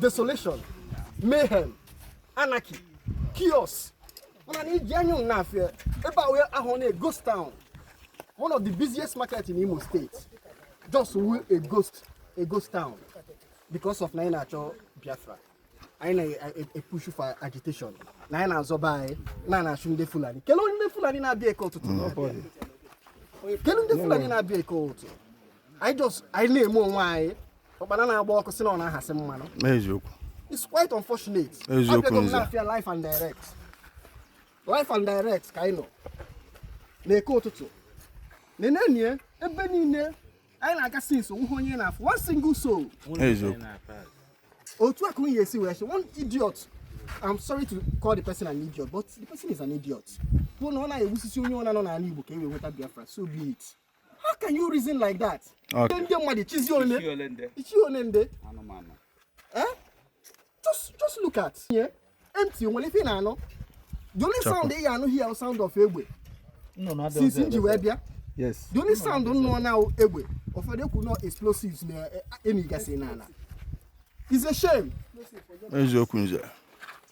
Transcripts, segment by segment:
desolation mayhem anarchy chaos mana na iji anya na afịa ebe a wee ahụ na ghost town one of the busiest market in imo state just wee a ghost a ghost town because of na anyị na-achọ biafra anyị na-epushu for agitation na anyị na-azọ be anyị na na-achụ ndị fulani kelee onye ndị fulani na-abịa eke ụtụtụ kelee ndị fulani na-abịa eke ụtụtụ anyị just anyị na-eme onwe anyị ụkpana na-agba ọkụ sị na ọ na-ahasị mmanụ eziokwu it's quite unfortunate Eziokwu, Abịago m Nze. n'afịa live and direct live and direct ka anyị nọ n'eke ụtụtụ nenenụ ebe niile anyị na-aga since onweghị onye na-afụ one single soul eziokwu otu a ka onye esi wee sị one idiot i'm sorry to call the person an idiot but the person is an idiot kwuo na ọ na-egbusisi onye ọbụna nọ n'ala igbo ka e wee nweta biafra so be it How can you reason like that? Okay. Ndị mmadụ ị chịzi ole? Ị chị ole ndị? Anụmanụ. Eh? Just, just look at here. Empty, onwerọ ife ị na-anụ. The only sound ị ga-anụ here sound of egbe. Since m ji wee bịa. Yes. The only sound m nụọna egbe. Ụfọdụ ekwu na ọ explosives na-enigasị eh, n'ana. It's a shame. Eziokwu nze.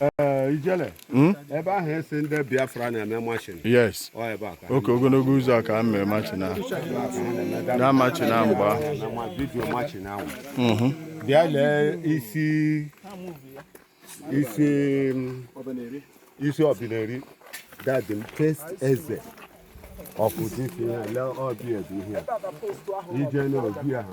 Eh, ijele hmm? ebe ahụ a sị ndị biafra na-eme marching yes oke ogologo ụzọ ka e mere marching ahụ na marching ahụ mgbe ahụ video marching ahụ mm-hmm. bịa lee isi isi mm, isi ọbineri dadi m test eze ọpụta isi ya lee ọbi ebe ihe ije na obi ahụ